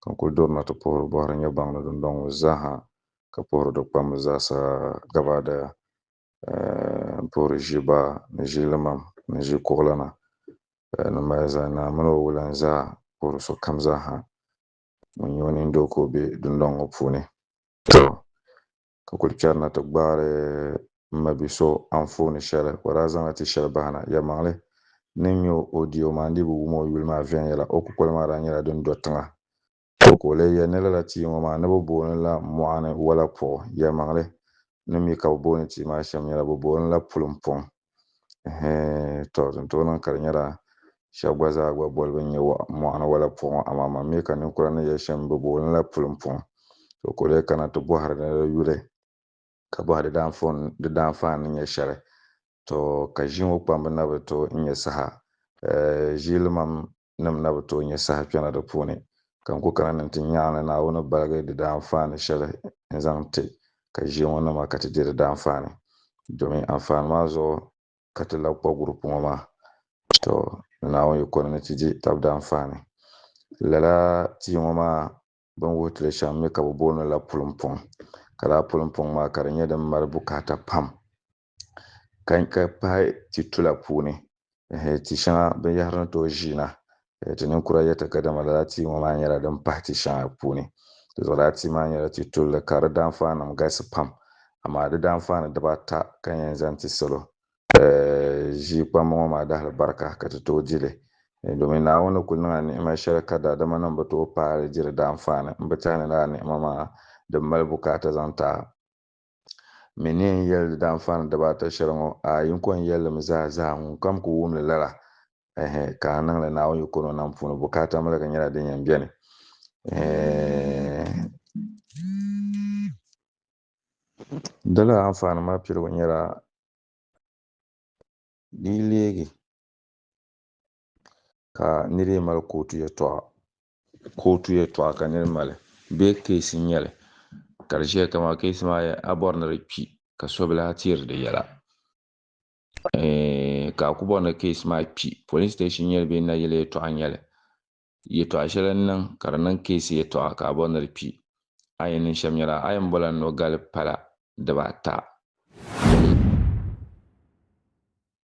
ka n kul durina ti puhiri bɔhiri nyɛgbaŋ ni dundɔŋ ŋɔ zaaha, ka puhiri di kpamba zaasa gabaadaya, eh, m-puhiri ʒiba ni ʒilimam ni ʒikuɣulana, eh, ni malizaya naa min o wulan zaa, puhiri sokam zaaha ŋun nyɛ o nindoo ka o be dundɔŋ ŋɔ puuni. Tɔ! ka kuli charina ti gbaari m ma bi so anfooni shɛli o daa zaŋla ti shɛli bahina. Yɛlimaŋli ni n-nya o o diya o maa n-dii bi wum o yuli maa viɛnyɛla. O kukoli maa daa nyɛla din do tiŋa. O ka o leei ya ni lala tia ŋɔ maa ni bɛ booni la mɔɣini walapuɣu. Yɛlimaŋli ni mi ka bɛ booni tia maa shɛm nyɛla bɛ booni la pulimpɔŋ. Ɛhɛɛn, tɔ, din tooi niŋ ka di nyɛla shɛba gba zaa gba bolibu n-nyɛ waɣ mɔɣuni wala puɣu, amaa man mi ka ninkura ni yɛli shɛm bɛ booi li ni la pulim puɣu. Tɔ, ka o lee kana ti bɔhiri ni di yuli ka bɔhi di daanfon, di daanfaan ni nyɛ shɛli. Tɔ, ka ʒii ŋɔ kpambu na bi tooi n-nyɛ saha. Ɛɛh, ʒiilimam nim na bi tooi nyɛ saha kpɛna di puuni, ka n ku kana ni nti nyaŋ ni Naawuni baligi di daanfaani shɛli n zaŋ ti ka ʒiɛŋɔ nima ka ti di di daanfaani, domin anfaani maa zuɣu ka ti labi kpa gurupu ŋɔ maa. Tɔ! Ni Naawuni yi kɔni ni ti di tab daanfaani, lala tia ŋɔ maa bini wuhi ti li shɛm mi ka bi booni li la pulimpuŋ, ka lala pulimpuŋ maa ka di nyɛ din mali bukaata pam. ka pahi ti tula puuni ti shɛŋa binyɛhiri ni tooi ʒiina ti ninkura yɛta ka dama lala tia ŋɔ maa nyɛla din pahi ti shɛŋa puuni di zuɣu lala tia maa nyɛla ti tulli ka di daanfaanim galisi pam amaa di daanfaani dibaata ka n yɛn zaŋ ti salo ʒii kpambu ŋɔ maa dahili barika ka ti tooi di li domin Naawuni ni kul niŋla ni'ima shɛli ka daadamanim bi tooi paai li di daanfaani m bi tɛhi ni lala ni'ima maa din mali bukaata zaŋ ti a. Mi ni yɛn yɛli di daanfaani dibaata shɛli ŋɔ, a yiŋkɔ n yɛli li mi zaa zaa, ŋunkam ku wum li lala, ɛhɛ, ka a niŋ li Naawuni yiko ni o nam puuni, bukaata miligi nyɛla din yɛn beni, ɛhɛ. Dala anfaani maa piligu nyɛla di yi leegi ka nira yi mali kootu yɛtɔɣa kootu yɛltɔɣa ka niri mali bee keesi n nyɛli ka di ʒɛya kama keesi maa yɛ a bɔri ni di kpi ka sobilahi tiri di yɛla ka a ku bɔri ni keesi maa kpi polin station nyɛli bee nayili yɛltɔɣa n nyɛli yɛltɔɣa shɛli n niŋ ka di niŋ keesi yɛltɔɣa ka a bɔri ni di kpi a yɛn niŋ shɛm nyɛla a yɛn bɔla nɔgali pala dibaata